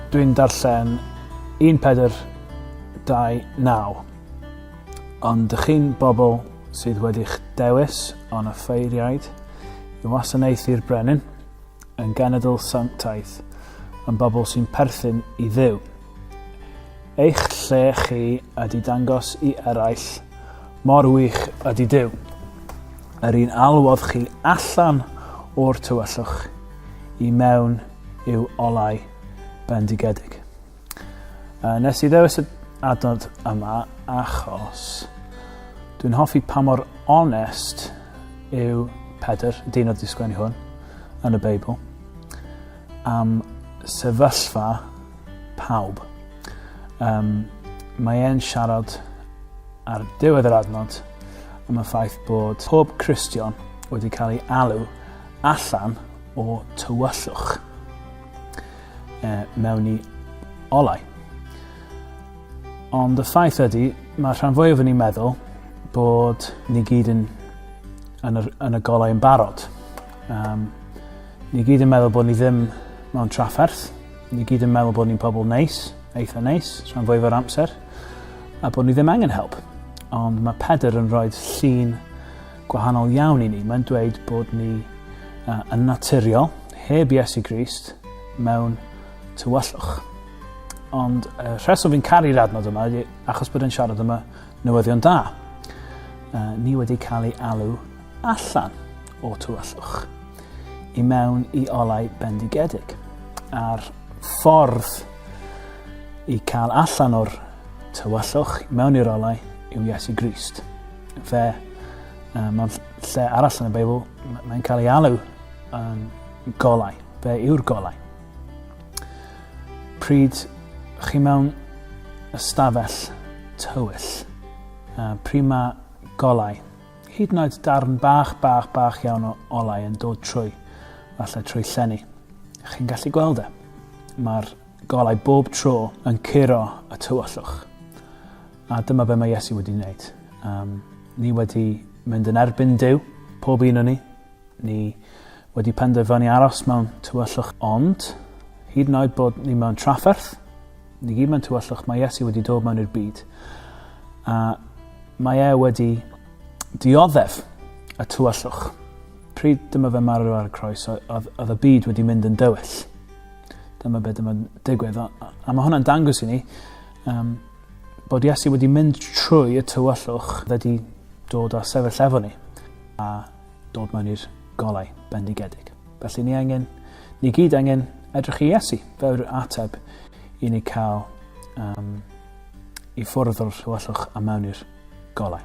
Dwi'n darllen 1429. Ond dych chi'n bobl sydd wedi'ch dewis on y ffeiriaid i wasanaethu'r brenin, Yn genedl sanctaidd, yn bobl sy'n perthyn i Dduw. Eich lle chi ydy dangos i eraill mor wych ydy Duw. Yr un alwodd chi allan o'r tywyllwch i mewn i'w olau bendigedig. Yy nes i ddewis y adnod yma achos dwi'n hoffi pa mor onest yw Pedr, y dyn oedd 'di sgwennu hwn, yn y Beibl am sefyllfa pawb. Um, mae e'n siarad ar diwedd yr adnod am y ffaith bod pob Cristion wedi cael ei alw allan o tywyllwch. uh, mewn i olau. Ond y ffaith ydy, mae rhan fwyaf yn ei meddwl bod ni gyd yn, yn, yr, yn y golau yn barod. Um, ni gyd yn meddwl bod ni ddim mewn trafferth. Ni gyd yn meddwl bod ni'n pobl neis, eitha neis, rhan fwyaf o'r amser, a bod ni ddim angen help. Ond mae Pedr yn rhoi llun gwahanol iawn i ni. Mae'n dweud bod ni uh, yn naturiol, heb Iesu Grist, mewn tywyllwch. Ond y rheswm fi'n caru'r adnod yma ydy achos bod e'n siarad yma newyddion da. Uh, ni wedi cael ei alw allan o tywyllwch i mewn i olau bendigedig. A'r ffordd i cael allan o'r tywyllwch mewn i'r olau yw Iesu Grist. Fe, uh, mewn lle arall yn y Beibl, mae'n cael ei alw yn golau. Fe yw'r golau. Pryd chi mewn ystafell tywyll, uh, pryd mae golau, hyd yn oed darn bach, bach, bach iawn o olau yn dod trwy, falle trwy llenni. Chi'n gallu gweld e. Mae'r golau bob tro yn curo y tywyllwch. A dyma be mae Iesu wedi wneud. Um, ni wedi mynd yn erbyn Dyw, pob un o ni. Ni wedi penderfynu aros mewn tywyllwch ond, hyd yn oed bod ni mewn trafferth, ni gyd mewn tywyllwch, mae Iesu wedi dod mewn i'r byd. A mae e wedi dioddef y tywyllwch. Pryd dyma fe marw ar y croes, oedd y byd wedi mynd yn dywyll. Dyma beth dyma'n digwydd. A, a mae hwnna'n dangos i ni Um, bod Iesu wedi mynd trwy y tywyllwch wedi dod a sefyll efo ni a dod mewn i'r golau bendigedig. Felly ni angen, ni gyd angen edrych i Iesu fel yr ateb i ni cael um, i ffwrdd o'r rhywellwch a mewn i'r golau.